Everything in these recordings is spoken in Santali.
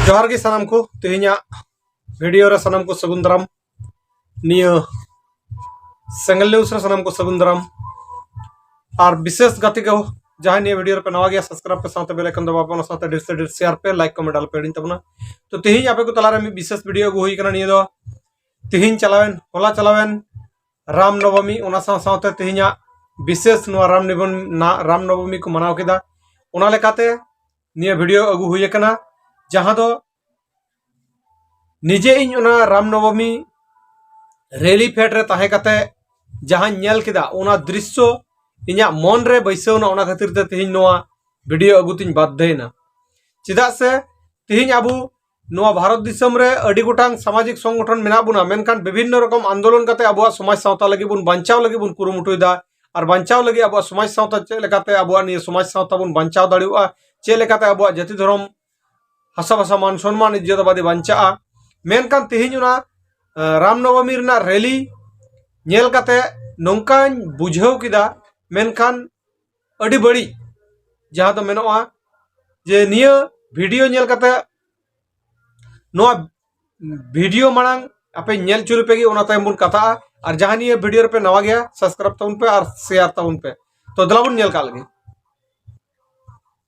ᱡᱚᱦᱟᱨ ᱜᱮ ᱥᱟᱱᱟᱢ ᱠᱚ ᱛᱮᱦᱮᱧᱟᱜ ᱵᱷᱤᱰᱤᱭᱳ ᱨᱮ ᱥᱟᱱᱟᱢ ᱠᱚ ᱥᱟᱹᱜᱩᱱ ᱫᱟᱨᱟᱢ ᱱᱤᱭᱟᱹ ᱥᱮᱸᱜᱮᱞᱤ ᱩᱥᱨᱟ ᱥᱟᱱᱟᱢ ᱠᱚ ᱥᱟᱹᱜᱩᱱ ᱫᱟᱨᱟᱢ ᱟᱨ ᱵᱤᱥᱮᱥ ᱜᱟᱛᱮ ᱠᱚ ᱡᱟᱦᱟᱸ ᱱᱤᱭᱟᱹ ᱵᱷᱤᱰᱤᱭᱳ ᱨᱮᱯᱮ ᱱᱟᱣᱟ ᱜᱮᱭᱟ ᱥᱟᱵᱥᱠᱨᱟᱭᱤᱵ ᱯᱮ ᱥᱟᱶᱛᱮ ᱵᱮᱞ ᱟᱭᱠᱚᱱ ᱫᱟᱵᱟᱣ ᱯᱮ ᱚᱱᱟ ᱥᱟᱶᱛᱮ ᱰᱷᱮᱨ ᱥᱮ ᱰᱷᱮᱨ ᱥᱮᱭᱟᱨ ᱯᱮ ᱞᱟᱭᱤᱠ ᱠᱚᱢᱮᱱᱴ ᱟᱞᱚ ᱯᱮ ᱦᱤᱲᱤᱧ ᱛᱟᱵᱚᱱᱟ ᱛᱚ ᱛᱮᱦᱮᱧ ᱟᱯᱮ ᱠᱚ ᱛᱟᱞᱟᱨᱮ ᱢᱤᱫ ᱵᱤᱥᱮᱥ ᱵᱷᱤᱰᱤᱭᱳ ᱟᱹᱜᱩ ᱦᱩᱭ ᱠᱟᱱᱟ ᱱᱤᱭᱟᱹ ᱫᱚ ᱛᱮᱦᱮᱧ ᱪᱟᱞᱟᱣᱮᱱ ᱦᱚᱞᱟ ᱪᱟᱞᱟᱣᱮᱱ ᱨᱟᱢ ᱱᱚᱵᱚᱢᱤ ᱚᱱᱟ ᱥᱟᱶ ᱥᱟᱶᱛᱮ ᱛᱮᱦᱮᱧᱟᱜ ᱵᱤᱥᱮᱥ ᱱᱚᱣᱟ ᱨᱟᱢ ᱱᱤᱵᱚᱱ ᱨᱟᱢ ᱱᱚᱵᱚᱢᱤ ᱠᱚ ᱢᱟᱱᱟᱣ ᱠᱮᱫᱟ ᱚᱱᱟ ᱞᱮᱠᱟᱛᱮ ᱱᱤᱭᱟᱹ ᱵᱷᱤᱰᱤᱭᱳ ᱟᱹᱜᱩ ᱦᱩᱭ ᱟᱠᱟᱱᱟ ᱡᱟᱦᱟᱸ ᱫᱚ ᱱᱤᱡᱮ ᱤᱧ ᱚᱱᱟ ᱨᱟᱢᱱᱚᱵᱚᱢᱤ ᱨᱮᱞᱤ ᱯᱷᱮᱰ ᱨᱮ ᱛᱟᱦᱮᱸ ᱠᱟᱛᱮ ᱡᱟᱦᱟᱸᱧ ᱧᱮᱞ ᱠᱮᱫᱟ ᱚᱱᱟ ᱫᱨᱤᱥᱥᱚ ᱤᱧᱟᱹᱜ ᱢᱚᱱ ᱨᱮ ᱵᱟᱹᱭᱥᱟᱹᱣᱱᱟ ᱚᱱᱟ ᱠᱷᱟᱹᱛᱤᱨ ᱛᱮ ᱛᱮᱦᱮᱧ ᱱᱚᱣᱟ ᱵᱷᱤᱰᱤᱭᱳ ᱟᱹᱜᱩ ᱛᱤᱧ ᱵᱟᱫᱽᱫᱷᱚᱭᱮᱱᱟ ᱪᱮᱫᱟᱜ ᱥᱮ ᱛᱮᱦᱮᱧ ᱟᱵᱚ ᱱᱚᱣᱟ ᱵᱷᱟᱨᱚᱛ ᱫᱤᱥᱚᱢ ᱨᱮ ᱟᱹᱰᱤ ᱜᱚᱴᱟᱝ ᱥᱟᱢᱟᱡᱤᱠ ᱥᱚᱝᱜᱚᱴᱷᱚᱱ ᱢᱮᱱᱟᱜ ᱵᱚᱱᱟ ᱢᱮᱱᱠᱷᱟᱱ ᱵᱤᱵᱷᱤᱱᱱᱚ ᱨᱚᱠᱚᱢ ᱟᱱᱫᱳᱞᱚᱱ ᱠᱟᱛᱮ ᱟᱵᱚᱣᱟᱜ ᱥᱚᱢᱟᱡᱽ ᱥᱟᱶᱛᱟ ᱞᱟᱹᱜᱤᱫ ᱵᱚᱱ ᱵᱟᱧᱪᱟᱣ ᱞᱟᱹᱜᱤᱫ ᱵᱚᱱ ᱠᱩᱨᱩᱢᱩᱴᱩᱭᱮᱫᱟ ᱟᱨ ᱵᱟᱧᱪᱟᱣ ᱞᱟᱹᱜᱤᱫ ᱟᱵᱚᱣᱟᱜ ᱥᱚᱢᱟᱡᱽ ᱥᱟᱶᱛᱟ ᱪᱮᱫ ᱞᱮᱠᱟᱛᱮ ᱟᱵᱚᱣᱟᱜ ᱱᱤᱭᱟᱹ ᱥᱚᱢᱟᱡᱽ ᱥᱟᱶᱛᱟ ᱵᱚᱱ ᱵᱟᱧᱪᱟᱣ ᱫᱟᱲᱮᱭᱟᱜᱼᱟ ᱪᱮᱫ ᱞᱮᱠᱟᱛᱮ ᱟᱵᱚᱣᱟᱜ ᱡᱟᱹᱛᱤ ᱫᱷᱚᱨᱚᱢ ᱦᱟᱥᱟᱵᱷᱟᱥᱟ ᱢᱟᱱ ᱥᱚᱱᱢᱟᱱ ᱤᱡᱡᱚᱛ ᱟᱵᱟᱫᱮ ᱵᱟᱧᱪᱟᱜᱼᱟ ᱢᱮᱱᱠᱷᱟᱱ ᱛᱮᱦᱮᱧ ᱚᱱᱟ ᱨᱟᱢᱱᱚᱵᱚᱢᱤ ᱨᱮᱱᱟᱜ ᱨᱮᱞᱤ ᱧᱮᱞ ᱠᱟᱛᱮ ᱱᱚᱝᱠᱟᱧ ᱵᱩᱡᱷᱟᱹᱣ ᱠᱮᱫᱟ ᱢᱮᱱᱠᱷᱟᱱ ᱟᱹᱰᱤ ᱵᱟᱹᱲᱤᱡ ᱡᱟᱦᱟᱸ ᱫᱚ ᱢᱮᱱᱚᱜᱼᱟ ᱡᱮ ᱱᱤᱭᱟᱹ ᱵᱷᱤᱰᱤᱭᱳ ᱧᱮᱞ ᱠᱟᱛᱮ ᱱᱚᱣᱟ ᱵᱷᱤᱰᱤᱭᱳ ᱢᱟᱲᱟᱝ ᱟᱯᱮ ᱧᱮᱞ ᱪᱩᱨ ᱯᱮ ᱜᱮ ᱚᱱᱟ ᱛᱟᱭᱚᱢ ᱵᱚᱱ ᱠᱟᱛᱷᱟᱜᱼᱟ ᱟᱨ ᱡᱟᱦᱟᱸ ᱱᱤᱭᱟᱹ ᱵᱷᱤᱰᱤᱭᱳ ᱨᱮᱯᱮ ᱱᱟᱣᱟ ᱜᱮᱭᱟ ᱥᱟᱵᱥᱠᱨᱟᱭᱤᱵ ᱛᱟᱵᱚᱱ ᱯᱮ ᱟᱨ ᱥᱮᱭᱟᱨ ᱛᱟᱵᱚᱱ ᱯᱮ ᱛᱚ ᱫᱮᱞᱟ ᱵᱚᱱ ᱧᱮᱞ ᱠᱟᱜ ᱞᱟᱹᱜᱤᱫ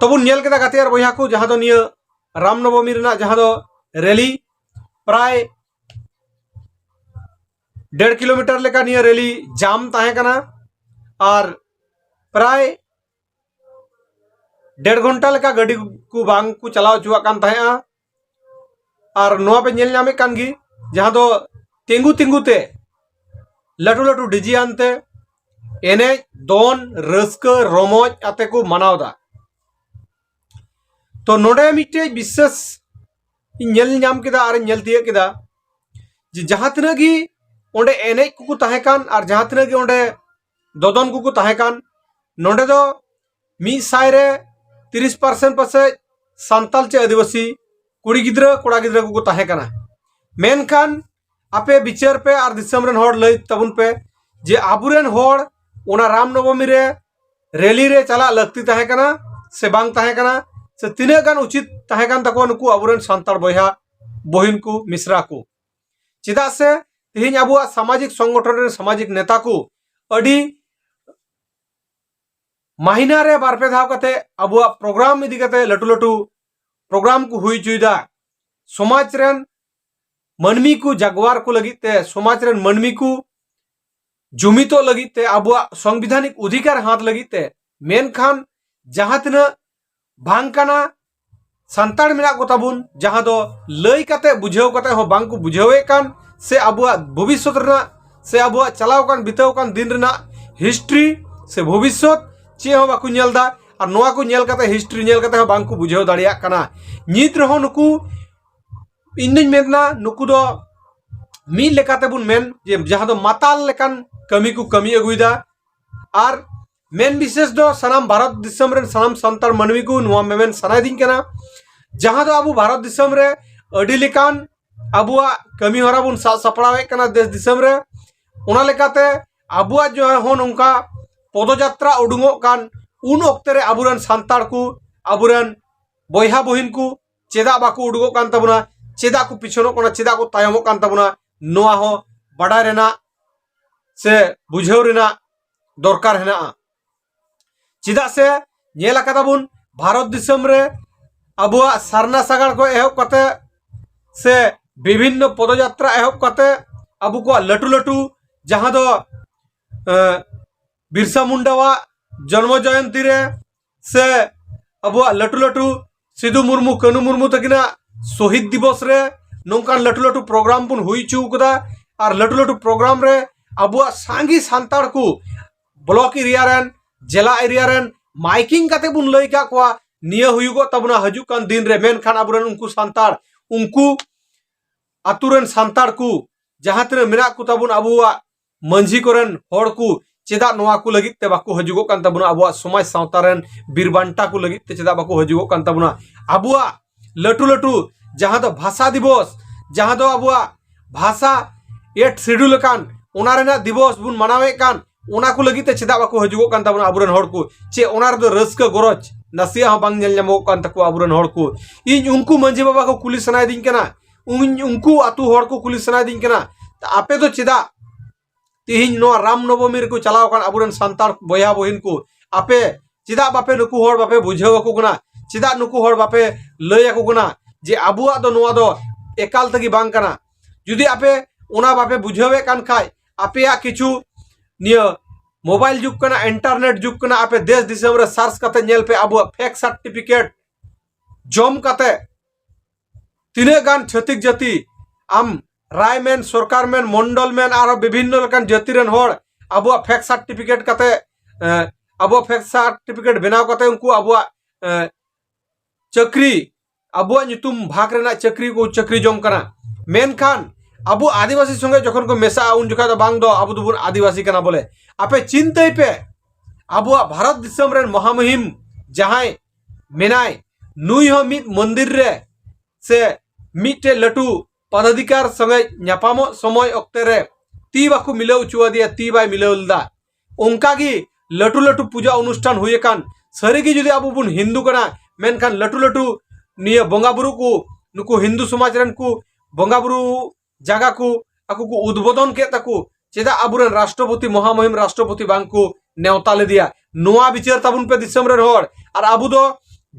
ᱛᱚᱵᱚᱱ ᱧᱮᱞ ᱠᱮᱫᱟ ᱜᱟᱛᱮ ᱟᱨ ᱵᱚᱭᱦᱟ ᱠᱚ ᱡᱟᱦᱟᱸ ᱫᱚ ᱱᱤᱭᱟᱹ ᱨᱟᱢ ᱱᱚᱵᱚᱢᱤ ᱨᱮᱱᱟᱜ ᱡᱟᱦᱟᱸ ᱫᱚ ᱨᱮᱞᱤ ᱯᱨᱟᱭ ᱰᱮᱲ ᱠᱤᱞᱳᱢᱤᱴᱟᱨ ᱞᱮᱠᱟ ᱱᱤᱭᱟᱹ ᱨᱮᱞᱤ ᱡᱟᱢ ᱛᱟᱦᱮᱸ ᱠᱟᱱᱟ ᱟᱨ ᱯᱨᱟᱭ ᱰᱮᱲ ᱜᱷᱚᱱᱴᱟ ᱞᱮᱠᱟ ᱜᱟᱹᱰᱤ ᱠᱚ ᱵᱟᱝ ᱠᱚ ᱪᱟᱞᱟᱣ ᱦᱚᱪᱚᱣᱟᱜ ᱠᱟᱱ ᱛᱟᱦᱮᱸᱜᱼᱟ ᱟᱨ ᱱᱚᱣᱟ ᱯᱮ ᱧᱮᱞ ᱧᱟᱢᱮᱫ ᱠᱟᱱ ᱜᱮ ᱡᱟᱦᱟᱸ ᱫᱚ ᱛᱤᱸᱜᱩ ᱛᱤᱸᱜᱩ ᱛᱮ ᱞᱟᱹᱴᱩ ᱞᱟᱹᱴᱩ ᱰᱤᱡᱮ ᱟᱱᱛᱮ ᱮᱱᱮᱡ ᱫᱚᱱ ᱨᱟᱹᱥᱠᱟᱹ ᱨᱚᱢᱚᱡ ᱟᱛᱮ ᱠᱚ ᱢᱟᱱᱟᱣ ᱫᱟ ᱛᱚ ᱱᱚᱰᱮ ᱢᱤᱫᱴᱮᱡ ᱵᱤᱥᱮᱥ ᱤᱧ ᱧᱮᱞ ᱧᱟᱢ ᱠᱮᱫᱟ ᱟᱨ ᱧᱮᱞ ᱛᱤᱭᱟᱹᱜ ᱠᱮᱫᱟ ᱡᱮ ᱡᱟᱦᱟᱸ ᱛᱤᱱᱟᱹᱜ ᱜᱮ ᱚᱸᱰᱮ ᱮᱱᱮᱡ ᱠᱚᱠᱚ ᱛᱟᱦᱮᱸ ᱠᱟᱱ ᱟᱨ ᱡᱟᱦᱟᱸ ᱛᱤᱱᱟᱹᱜ ᱜᱮ ᱚᱸᱰᱮ ᱫᱚᱫᱚᱱ ᱠᱚᱠᱚ ᱛᱟᱦᱮᱸ ᱠᱟᱱ ᱱᱚᱰᱮ ᱫᱚ ᱢᱤᱫ ᱥᱟᱭ ᱨᱮ ᱛᱤᱨᱤᱥ ᱯᱟᱨᱥᱮᱱ ᱯᱟᱥᱮᱡ ᱥᱟᱱᱛᱟᱞ ᱪᱮ ᱟᱹᱫᱤᱵᱟᱹᱥᱤ ᱠᱩᱲᱤ ᱜᱤᱫᱽᱨᱟᱹ ᱠᱚᱲᱟ ᱜᱤᱫᱽᱨᱟᱹ ᱠᱚᱠᱚ ᱛᱟᱦᱮᱸ ᱠᱟᱱᱟ ᱢᱮᱱᱠᱷᱟᱱ ᱟᱯᱮ ᱵᱤᱪᱟᱹᱨ ᱯᱮ ᱟᱨ ᱫᱤᱥᱚᱢ ᱨᱮᱱ ᱦᱚᱲ ᱞᱟᱹᱭ ᱛᱟᱵᱚᱱ ᱯᱮ ᱡᱮ ᱟᱵᱚᱨᱮᱱ ᱦᱚᱲ ᱚᱱᱟ ᱨᱟᱢ ᱱᱚᱵᱚᱢᱤ ᱨᱮ ᱨᱮᱞᱤ ᱨᱮ ᱪᱟᱞᱟᱜ ᱞᱟᱹᱠᱛᱤ ᱛᱟᱦᱮᱸ ᱠᱟᱱᱟ ᱥᱮ ᱵᱟᱝ ᱛᱟᱦᱮᱸ ᱠᱟᱱᱟ ᱥᱮ ᱛᱤᱱᱟᱹᱜ ᱜᱟᱱ ᱩᱪᱤᱛ ᱛᱟᱦᱮᱸ ᱠᱟᱱ ᱛᱟᱠᱚᱣᱟ ᱱᱩᱠᱩ ᱟᱵᱚᱨᱮᱱ ᱥᱟᱱᱛᱟᱲ ᱵᱚᱭᱦᱟ ᱵᱚᱦᱤᱱ ᱠᱚ ᱢᱤᱥᱨᱟ ᱠᱚ ᱪᱮᱫᱟᱜ ᱥᱮ ᱛᱮᱦᱮᱧ ᱟᱵᱚᱣᱟᱜ ᱥᱟᱢᱟᱡᱤᱠ ᱥᱚᱝᱜᱚᱴᱷᱚᱱ ᱨᱮᱱ ᱥᱟᱢᱟᱡᱤᱠ ᱱᱮᱛᱟ ᱠᱚ ᱟᱹᱰᱤ ᱢᱟᱦᱤᱱᱟ ᱨᱮ ᱵᱟᱨ ᱯᱮ ᱫᱷᱟᱣ ᱠᱟᱛᱮ ᱟᱵᱚᱣᱟᱜ ᱯᱨᱳᱜᱨᱟᱢ ᱤᱫᱤ ᱠᱟᱛᱮ ᱞᱟᱹᱴᱩ ᱞᱟᱹᱴᱩ ᱯᱨᱳᱜᱨᱟᱢ ᱠᱚ ᱦᱩᱭ ᱦᱚᱪᱚᱭᱮᱫᱟ ᱥᱚᱢᱟᱡᱽ ᱨᱮᱱ ᱢᱟᱹᱱᱢᱤ ᱠᱚ ᱡᱟᱜᱣᱟᱨ ᱠᱚ ᱞᱟᱹᱜᱤᱫ ᱛᱮ ᱥᱚᱢᱟᱡᱽ ᱨᱮᱱ ᱢᱟᱹᱱᱢᱤ ᱠᱚ ᱡᱩᱢᱤᱫᱚᱜ ᱞᱟᱹᱜᱤᱫ ᱛᱮ ᱟᱵᱚᱣᱟᱜ ᱥᱚᱝᱵᱤᱫᱷᱟᱱᱤᱠ ᱚᱫᱷᱤᱠᱟᱨ ᱦᱟᱛ ᱞᱟᱹᱜᱤᱫ ᱛᱮ ᱢᱮᱱᱠᱷᱟᱱ ᱡᱟᱦᱟᱸ ᱛᱤᱱᱟᱹᱜ ᱵᱟᱝ ᱠᱟᱱᱟ ᱥᱟᱱᱛᱟᱲ ᱢᱮᱱᱟᱜ ᱠᱚ ᱛᱟᱵᱚᱱ ᱡᱟᱦᱟᱸ ᱫᱚ ᱞᱟᱹᱭ ᱠᱟᱛᱮ ᱵᱩᱡᱷᱟᱹᱣ ᱠᱟᱛᱮ ᱦᱚᱸ ᱵᱟᱝ ᱠᱚ ᱵᱩᱡᱷᱟᱹᱣᱮᱫ ᱠᱟᱱ ᱥᱮ ᱟᱵᱚᱣᱟᱜ ᱵᱷᱚᱵᱤᱥᱥᱚᱛ ᱨᱮᱱᱟᱜ ᱥᱮ ᱟᱵᱚᱣᱟᱜ ᱪᱟᱞᱟᱣ ᱠᱟᱱ ᱵᱤᱛᱟᱹᱣ ᱠᱟᱱ ᱫᱤᱱ ᱨᱮᱱᱟᱜ ᱦᱤᱥᱴᱨᱤ ᱥᱮ ᱵᱷᱚᱵᱤᱥᱥᱚᱛ ᱪᱮᱫ ᱦᱚᱸ ᱵᱟᱠᱚ ᱧᱮᱞ ᱮᱫᱟ ᱟᱨ ᱱᱚᱣᱟ ᱠᱚ ᱧᱮᱞ ᱠᱟᱛᱮ ᱦᱤᱥᱴᱨᱤ ᱧᱮᱞ ᱠᱟᱛᱮ ᱦᱚᱸ ᱵᱟᱝ ᱠᱚ ᱵᱩᱡᱷᱟᱹᱣ ᱫᱟᱲᱮᱭᱟᱜ ᱠᱟᱱᱟ ᱱᱤᱛ ᱨᱮᱦᱚᱸ ᱱᱩᱠᱩ ᱤᱧ ᱫᱩᱧ ᱢᱮᱱᱟ ᱱᱩᱠᱩ ᱫᱚ ᱢᱤᱫ ᱞᱮᱠᱟᱛᱮ ᱵᱚᱱ ᱢᱮᱱ ᱡᱮ ᱡᱟᱦᱟᱸ ᱫᱚ ᱢᱟᱛᱟᱞ ᱞᱮᱠᱟᱱ ᱠᱟᱹᱢᱤ ᱠᱚ ᱠᱟᱹᱢᱤ ᱟᱹᱜᱩᱭᱮᱫᱟ ᱟᱨ ᱢᱮᱱ ᱵᱤᱥᱮᱥ ᱫᱚ ᱥᱟᱱᱟᱢ ᱵᱷᱟᱨᱚᱛ ᱫᱤᱥᱚᱢ ᱨᱮᱱ ᱥᱟᱱᱟᱢ ᱥᱟᱱᱛᱟᱲ ᱢᱟᱹᱱᱢᱤ ᱠᱚ ᱱᱚᱣᱟ ᱢᱮᱢᱮᱱ ᱥᱟᱱᱟᱭᱮᱫᱤᱧ ᱠᱟᱱᱟ ᱡᱟᱦᱟᱸ ᱫᱚ ᱟᱵᱚ ᱵᱷᱟᱨᱚᱛ ᱫᱤᱥᱚᱢ ᱨᱮ ᱟᱹᱰᱤ ᱞᱮᱠᱟᱱ ᱟᱵᱚᱣᱟᱜ ᱠᱟᱹᱢᱤ ᱦᱚᱨᱟ ᱵᱚᱱ ᱥᱟᱵ ᱥᱟᱯᱲᱟᱣᱮᱫ ᱠᱟᱱᱟ ᱫᱮᱥ ᱫᱤᱥᱚᱢ ᱨᱮ ᱚᱱᱟ ᱞᱮᱠᱟᱛᱮ ᱟᱵᱚᱣᱟᱜ ᱡᱟᱦᱟᱸ ᱦᱚᱸ ᱱᱚᱝᱠᱟ ᱯᱚᱫᱚᱡᱟᱛᱨᱟ ᱩᱰᱩᱝᱚᱜ ᱠᱟᱱ ᱩᱱ ᱚᱠᱛᱮ ᱨᱮ ᱟᱵᱚᱨᱮᱱ ᱥᱟᱱᱛᱟᱲ ᱠᱚ ᱟᱵᱚᱨᱮᱱ ᱵᱚᱭᱦᱟ ᱵᱚᱦᱤᱱ ᱠᱚ ᱪᱮᱫᱟᱜ ᱵᱟᱠᱚ ᱩᱰᱩᱠᱚᱜ ᱠᱟᱱ ᱛᱟᱵᱚᱱᱟ ᱪᱮᱫᱟᱜ ᱠᱚ ᱯᱤᱪᱷᱚᱱᱚᱜ ᱠᱟᱱᱟ ᱪᱮᱫᱟᱜ ᱠᱚ ᱛᱟᱭᱚᱢᱚᱜ ᱠᱟᱱ ᱛᱟᱵᱚᱱᱟ ᱱᱚᱣᱟ ᱦᱚᱸ ᱵᱟᱰᱟᱭ ᱨᱮᱱᱟᱜ ᱥᱮ ᱵᱩᱡᱷᱟᱹᱣ ᱨᱮᱱᱟᱜ ᱫᱚᱨᱠᱟᱨ ᱦᱮᱱᱟᱜᱼᱟ ᱪᱮᱫᱟᱜ ᱥᱮ ᱧᱮᱞ ᱟᱠᱟᱫᱟ ᱵᱚᱱ ᱵᱷᱟᱨᱚᱛ ᱫᱤᱥᱚᱢ ᱨᱮ ᱟᱵᱚᱣᱟᱜ ᱥᱟᱨᱱᱟ ᱥᱟᱜᱟᱲ ᱠᱷᱚᱱ ᱮᱦᱚᱵ ᱠᱟᱛᱮ ᱥᱮ ᱵᱤᱵᱷᱤᱱᱱᱚ ᱯᱚᱫᱚᱡᱟᱛᱨᱟ ᱮᱦᱚᱵ ᱠᱟᱛᱮ ᱟᱵᱚ ᱠᱚᱣᱟᱜ ᱞᱟᱹᱴᱩ ᱞᱟᱹᱴᱩ ᱡᱟᱦᱟᱸ ᱫᱚ ᱵᱤᱨᱥᱟ ᱢᱩᱱᱰᱟᱣᱟᱜ ᱡᱚᱱᱢᱚ ᱡᱚᱭᱚᱱᱛᱤ ᱨᱮ ᱥᱮ ᱟᱵᱚᱣᱟᱜ ᱞᱟᱹᱴᱩ ᱞᱟᱹᱴᱩ ᱥᱤᱫᱩ ᱢᱩᱨᱢᱩ ᱠᱟᱹᱱᱩ ᱢᱩᱨᱢᱩ ᱛᱟᱹᱠᱤᱱᱟᱜ ᱥᱚᱦᱤᱫ ᱫᱤᱵᱚᱥ ᱨᱮ ᱱᱚᱝᱠᱟᱱ ᱞᱟᱹᱴᱩ ᱞᱟᱹᱴᱩ ᱯᱨᱳᱜᱨᱟᱢ ᱵᱚᱱ ᱦᱩᱭ ᱦᱚᱪᱚ ᱠᱟᱫᱟ ᱟᱨ ᱞᱟᱹᱴᱩ ᱞᱟᱹᱴᱩ ᱯᱨᱳᱜᱨᱟᱢ ᱨᱮ ᱟᱵᱚᱣᱟᱜ ᱥᱟᱸᱜᱮ ᱥᱟᱱᱛᱟᱲ ᱠᱚ ᱵᱞᱚᱠ ᱮᱨᱤᱭᱟ ᱨᱮᱱ ᱡᱮᱞᱟ ᱮᱨᱤᱭᱟ ᱨᱮᱱ ᱢᱟᱭᱠᱤᱝ ᱠᱟᱛᱮ ᱵᱚᱱ ᱞᱟᱹᱭ ᱠᱟᱜ ᱠᱚᱣᱟ ᱱᱤᱭᱟᱹ ᱦᱩᱭᱩᱜᱚᱜ ᱛᱟᱵᱚᱱᱟ ᱦᱤᱡᱩᱜ ᱠᱟᱱ ᱫᱤᱱ ᱨᱮ ᱢᱮᱱᱠᱷᱟᱱ ᱟᱵᱚᱨᱮᱱ ᱩᱱᱠᱩ ᱥᱟᱱᱛᱟᱲ ᱩᱱᱠᱩ ᱟᱛᱳ ᱨᱮᱱ ᱥᱟᱱᱛᱟᱲ ᱠᱚ ᱡᱟᱦᱟᱸ ᱛᱤᱱᱟᱹᱜ ᱢᱮᱱᱟᱜ ᱠᱚ ᱛᱟᱵᱚᱱ ᱟᱵᱚᱣᱟᱜ ᱢᱟᱹᱡᱷᱤ ᱠᱚᱨᱮᱱ ᱦᱚᱲ ᱠᱚ ᱪᱮᱫᱟᱜ ᱱᱚᱣᱟ ᱠᱚ ᱞᱟᱹᱜᱤᱫ ᱛᱮ ᱵᱟᱠᱚ ᱦᱤᱡᱩᱜᱚᱜ ᱠᱟᱱ ᱛᱟᱵᱚᱱᱟ ᱟᱵᱚᱣᱟᱜ ᱥᱚᱢᱟᱡᱽ ᱥᱟᱶᱛᱟ ᱨᱮᱱ ᱵᱤᱨ ᱵᱟᱱᱴᱟ ᱠᱚ ᱞᱟᱹᱜᱤᱫ ᱛᱮ ᱪᱮᱫᱟᱜ ᱵᱟᱠᱚ ᱦᱤᱡᱩᱜᱚᱜ ᱠᱟᱱ ᱛᱟᱵᱚᱱᱟ ᱟᱵᱚᱣᱟᱜ ᱞᱟᱹᱴᱩ ᱞᱟᱹᱴᱩ ᱡᱟᱦᱟᱸ ᱫᱚ ᱵᱷᱟᱥᱟ ᱫᱤᱵᱚᱥ ᱡᱟᱦᱟᱸ ᱫᱚ ᱟᱵᱚᱣᱟᱜ ᱵᱷᱟᱥᱟ ᱮᱴ ᱥᱤᱰᱩᱞ ᱟᱠᱟᱱ ᱚᱱᱟ ᱨᱮᱱᱟᱜ ᱫᱤᱵᱚᱥ ᱵᱚᱱ ᱢᱟᱱᱟᱣᱮᱫ ᱠᱟᱱ ᱚᱱᱟ ᱠᱚ ᱞᱟᱹᱜᱤᱫ ᱛᱮ ᱪᱮᱫᱟᱜ ᱵᱟᱠᱚ ᱦᱤᱡᱩᱜᱚᱜ ᱠᱟᱱ ᱛᱟᱵᱚᱱᱟ ᱟᱵᱚᱨᱮᱱ ᱦᱚᱲ ᱠᱚ ᱪᱮ ᱚᱱᱟ ᱨᱮᱫᱚ ᱨᱟᱹᱥᱠᱟᱹ ᱜᱚᱨᱚᱡᱽ ᱱᱟᱥᱮᱭᱟᱜ ᱦᱚᱸ ᱵᱟᱝ ᱧᱮᱞ ᱧᱟᱢᱚᱜᱚᱜ ᱠᱟᱱ ᱛᱟᱠᱚᱣᱟ ᱟᱵᱚᱨᱮᱱ ᱦᱚᱲ ᱠᱚ ᱤᱧ ᱩᱱᱠᱩ ᱢᱟᱹᱡᱷᱤ ᱵᱟᱵᱟ ᱠᱚ ᱠᱩᱞᱤ ᱥᱟᱱᱟᱭᱮᱫᱤᱧ ᱠᱟᱱᱟ ᱩᱱ ᱩᱱᱠᱩ ᱟᱛᱳ ᱦᱚᱲ ᱠᱚ ᱠᱩᱞᱤ ᱥᱟᱱᱟᱭᱮᱫᱤᱧ ᱠᱟᱱᱟ ᱟᱯᱮ ᱫᱚ ᱪᱮᱫᱟᱜ ᱛᱤᱦᱤᱧ ᱱᱚᱣᱟ ᱨᱟᱢ ᱱᱚᱵᱚᱢᱤ ᱨᱮᱠᱚ ᱪᱟᱞᱟᱣ ᱟᱠᱟᱱ ᱟᱵᱚᱨᱮᱱ ᱥᱟᱱᱛᱟᱲ ᱵᱚᱭᱦᱟ ᱵᱚᱦᱤᱱ ᱠᱚ ᱟᱯᱮ ᱪᱮᱫᱟᱜ ᱵᱟᱯᱮ ᱱᱩᱠᱩ ᱦᱚᱲ ᱵᱟᱯᱮ ᱵᱩᱡᱷᱟᱹᱣ ᱟᱠᱚ ᱠᱟᱱᱟ ᱪᱮᱫᱟᱜ ᱱᱩᱠᱩ ᱦᱚᱲ ᱵᱟᱯᱮ ᱞᱟᱹᱭ ᱟᱠᱚ ᱠᱟᱱᱟ ᱡᱮ ᱟᱵᱚᱣᱟᱜ ᱫᱚ ᱱᱚᱣᱟ ᱫᱚ ᱮᱠᱟᱞ ᱛᱮᱜᱮ ᱵᱟᱝ ᱠᱟᱱᱟ ᱡᱩᱫᱤ ᱟᱯᱮ ᱚᱱᱟ ᱵᱟᱯᱮ ᱵᱩᱡᱷᱟᱹᱣᱮᱫ ᱠᱟᱱ ᱠᱷᱟᱡ ᱟᱯᱮᱭᱟᱜ ᱠᱤᱪᱷᱩ ᱱᱤᱭᱟᱹ ᱢᱳᱵᱟᱭᱤᱞ ᱡᱩᱜᱽ ᱠᱟᱱᱟ ᱤᱱᱴᱟᱨᱱᱮᱴ ᱡᱩᱜᱽ ᱠᱟᱱᱟ ᱟᱯᱮ ᱫᱮᱥ ᱫᱤᱥᱚᱢ ᱨᱮ ᱥᱟᱨᱪ ᱠᱟᱛᱮ ᱧᱮᱞ ᱯᱮ ᱟᱵᱚᱣᱟᱜ ᱯᱷᱮᱠ ᱥᱟᱨᱴᱤᱯᱷᱤᱠᱮᱴ ᱡᱚᱢ ᱠᱟᱛᱮ ᱛᱤᱱᱟᱹᱜ ᱜᱟᱱ ᱪᱷᱟᱹᱛᱤᱠ ᱡᱟᱹᱛᱤ ᱟᱢ ᱨᱟᱭ ᱢᱮᱱ ᱥᱚᱨᱠᱟᱨ ᱢᱮᱱ ᱢᱚᱱᱰᱚᱞ ᱢᱮᱱ ᱟᱨᱦᱚᱸ ᱵᱤᱵᱷᱤᱱᱱᱚ ᱞᱮᱠᱟᱱ ᱡᱟᱹᱛᱤ ᱨᱮᱱ ᱦᱚᱲ ᱟᱵᱚᱣᱟᱜ ᱯᱷᱮᱠ ᱥᱟᱨᱴᱤᱯᱷᱤᱠᱮᱴ ᱠᱟᱛᱮ ᱟᱵᱚᱣᱟᱜ ᱯᱷᱮᱠ ᱥᱟᱨᱴᱤᱯᱷᱤᱠᱮᱴ ᱵᱮᱱᱟᱣ ᱠᱟᱛᱮ ᱩᱱᱠᱩ ᱟᱵᱚᱣᱟᱜ ᱪᱟᱹᱠᱨᱤ ᱟᱵᱚᱣᱟᱜ ᱧᱩᱛᱩᱢ ᱵᱷᱟᱜᱽ ᱨᱮᱱᱟᱜ ᱪᱟᱹᱠᱨᱤ ᱠᱚ ᱪᱟᱹᱠᱨᱤ ᱡᱚᱝ ᱠᱟᱱᱟ ᱢᱮᱱᱠᱷᱟᱱ ᱟᱵᱚ ᱟᱹᱫᱤᱵᱟᱹᱥᱤ ᱥᱚᱸᱜᱮ ᱡᱚᱠᱷᱚᱱ ᱠᱚ ᱢᱮᱥᱟᱜᱼᱟ ᱩᱱ ᱡᱚᱠᱷᱟᱡ ᱫᱚ ᱵᱟᱝ ᱫᱚ ᱟᱵᱚ ᱫᱚᱵᱚᱱ ᱟᱹᱫᱤᱵᱟᱹᱥᱤ ᱠᱟᱱᱟ ᱵᱚᱞᱮ ᱟᱯᱮ ᱪᱤᱱᱛᱟᱹᱭ ᱯᱮ ᱟᱵᱚᱣᱟᱜ ᱵᱷᱟᱨᱚᱛ ᱫᱤᱥᱚᱢ ᱨᱮᱱ ᱢᱚᱦᱟᱢᱩᱦᱤᱢ ᱡᱟᱦᱟᱸᱭ ᱢᱮᱱᱟᱭ ᱱᱩᱭ ᱦᱚᱸ ᱢᱤᱫ ᱢᱚᱱᱫᱤᱨ ᱨᱮ ᱥᱮ ᱢᱤᱫᱴᱮᱡ ᱞᱟᱹᱴᱩ ᱯᱟᱫᱟᱫᱷᱤᱠᱟᱨ ᱥᱚᱸᱜᱮ ᱧᱟᱯᱟᱢᱚᱜ ᱥᱚᱢᱚᱭ ᱚᱠᱛᱮ ᱨᱮ ᱛᱤ ᱵᱟᱠᱚ ᱢᱤᱞᱟᱹᱣ ᱦᱚᱪᱚᱣᱟᱫᱮᱭᱟ ᱛᱤ ᱵᱟᱭ ᱢᱤᱞᱟᱹᱣ ᱞᱮᱫᱟ ᱚᱱᱠᱟ ᱜᱮ ᱞᱟᱹᱴᱩ ᱞᱟᱹᱴᱩ ᱯᱩᱡᱟ ᱚᱱᱩᱥᱴᱷᱟᱱ ᱦᱩᱭ ᱟᱠᱟᱱ ᱥᱟᱹᱨᱤ ᱜᱮ ᱡᱩᱫᱤ ᱟᱵᱚ ᱵᱚᱱ ᱦᱤᱱᱫᱩ ᱠᱟᱱᱟ ᱢᱮᱱᱠᱷᱟᱱ ᱞᱟᱹᱴᱩ ᱞᱟᱹᱴᱩ ᱱᱤᱭᱟᱹ ᱵᱚᱸᱜᱟ ᱵᱩᱨᱩ ᱠᱚ ᱱᱩᱠᱩ ᱦᱤᱱᱫᱩ ᱥᱚᱢᱟᱡᱽ ᱨᱮᱱ ᱠᱚ ᱵᱚᱸᱜᱟ ᱵᱩᱨᱩ ᱡᱟᱜᱟ ᱠᱚ ᱟᱠᱚ ᱠᱚ ᱩᱫᱵᱳᱫᱚᱱ ᱠᱮᱫ ᱛᱟᱠᱚ ᱪᱮᱫᱟᱜ ᱟᱵᱚᱨᱮᱱ ᱨᱟᱥᱴᱨᱚᱯᱚᱛᱤ ᱢᱚᱦᱟᱢᱚᱦᱤᱢ ᱨᱟᱥᱴᱨᱚᱯᱚᱛᱤ ᱵᱟᱝ ᱠᱚ ᱱᱮᱣᱛᱟ ᱞᱮᱫᱮᱭᱟ ᱱᱚᱣᱟ ᱵᱤᱪᱟᱹᱨ ᱛᱟᱵᱚᱱ ᱯᱮ ᱫᱤᱥᱚᱢ ᱨᱮᱱ ᱦᱚᱲ ᱟᱨ ᱟᱵᱚ ᱫᱚ